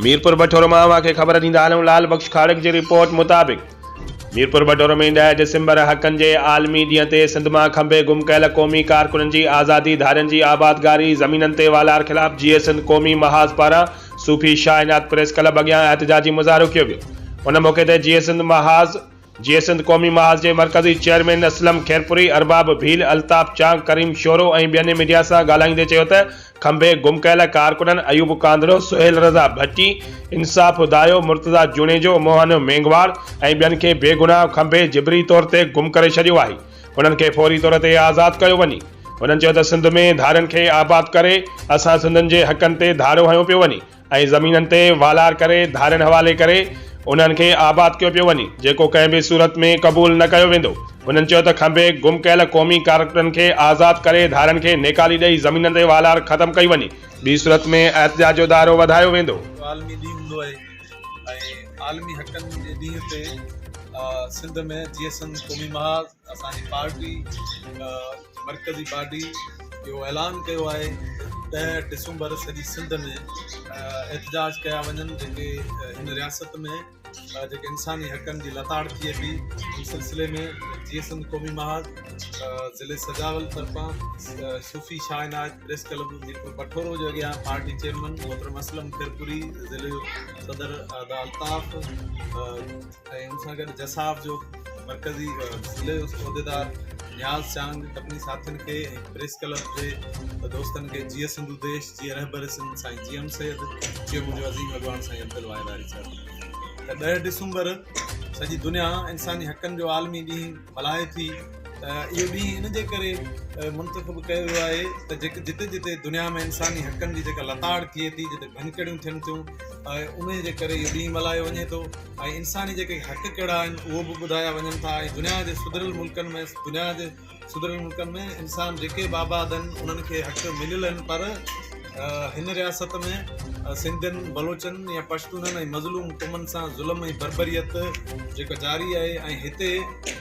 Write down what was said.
ميرپوربٺورو مان اوهان کي خبر ڏيندا هلون لعل بخش کاڙڪ جي رپورٽ مطابق ميرپوربٺورو ۾ ڏهه ڊسمبر حقن جي عالمي ڏينهن تي سنڌ مان کنڀي گم ڪيل قومي ڪارڪنن جي آزادي ڌارين جي آبادگاري زمينن تي والار خلاف جيئي سنڌ قومي محاذ پاران صوفي شاهه عنايت پريس ڪلب اڳيان احتجاجي مظاهرو ڪيو ويو ان موقعي تي جيئي سنڌ محاذ جيئي سنڌ قومي محاذ جي مرڪزي چيئرمين اسلم خيرپوري، ارباب ڀيل، الطاف چانگ، ڪريم شورو ۽ ٻين ميڊيا سان ڳالهائيندي چيو ته کنڀي گم ڪيل ڪارڪنن ايوب ڪانڌڙو، سهيل رضا ڀٽي، انصاف ادايو، مرتضيٰ جوڻيجو، موهن مينگهواڙ ۽ ٻين کي بيگناهه کنڀي جبري طور تي گم ڪري ڇڏيو آهي، انهن کي فوري طور تي آزاد ڪيو وڃي. هنن چيو ته سنڌ ۾ ڌارين کي آباد ڪري اسان سنڌين جي حقن تي ڌاڙو هنيو پيو وڃي، ۽ زمينن تي والار ڪري ڌارين حوالي ڪري انهن کي آباد ڪيو پيو وڃي جيڪو ڪنهن به صورت ۾ قبول نه ڪيو ويندو هنن چيو ته کنڀي گم ڪيل قومي ڪارڪٽرن کي آزاد ڪري ڌارين کي نيڪالي ڏئي زمينن تي والار ختم ڪئي وڃي ٻي صورت ۾ احتجاج جو دائرو وڌايو ويندو. اڄ عالمي ڏينهن هوندو آهي ۽ عالمي حقن جي ڏينهن تي سنڌ ۾ جي ايس اين قومي محاذ، اسان جي پارٽي مرڪزي باڊي اهو اعلان ڪيو آهي ته ڏهه ڊسمبر سڄي سنڌ ۾ احتجاج ڪيا وڃن جيڪي هن رياست ۾ جيڪي انساني حقن جي لتاڙ ٿئي پئي ان سلسلي ۾ جيئي سنڌ قومي محاذ ضلعي سجاول طرفان صوفي شاهه عنايت پريس ڪلب ميرپور پٺورو جي اڳيان پارٽي چيئرمن محترم اسلم خيرپوري ضلعي صدر ادا الطاف ۽ ان سان گڏ جساف جو مرڪزي ضلعي عهديدار نياز چانگ سڀني ساٿين کي ۽ پريس ڪلب جي دوستن کي جيئي سنڌو ديش جيئي رهبر سنڌ سائين جي ايم سيد جيئي منهنجو عظيم اڳواڻ سائين عبدالواحد آري صاحب ته ڏهه ڊسمبر سڄي دنيا انساني حقن جو عالمي ڏينهن ملهائي ٿي ته اهو ڏينهن ان جي ڪري منتخب ڪيو ويو آهي ته جيڪي جتي جتي دنيا ۾ انساني حقن جي جيڪا لتاڙ ٿئي ٿي جتي ڀڃڪڙيون ٿين ٿيون ۽ انهيء جي ڪري اهو ڏينهن ملهايو وڃي ٿو ۽ انساني جيڪي حق ڪهڙا آهن اهو به ٻڌايا وڃن ٿا ۽ دنيا جي سڌريل ملڪن ۾ دنيا جي سڌريل ملڪن ۾ انسان جيڪي به آباد آهن انهن کي حق مليل آهن پر هن رياست ۾ سنڌين بلوچن يا پشتونن ۽ مظلوم قومن سان ظلم ۽ بربريت جيڪا جاري آهي ۽ هتي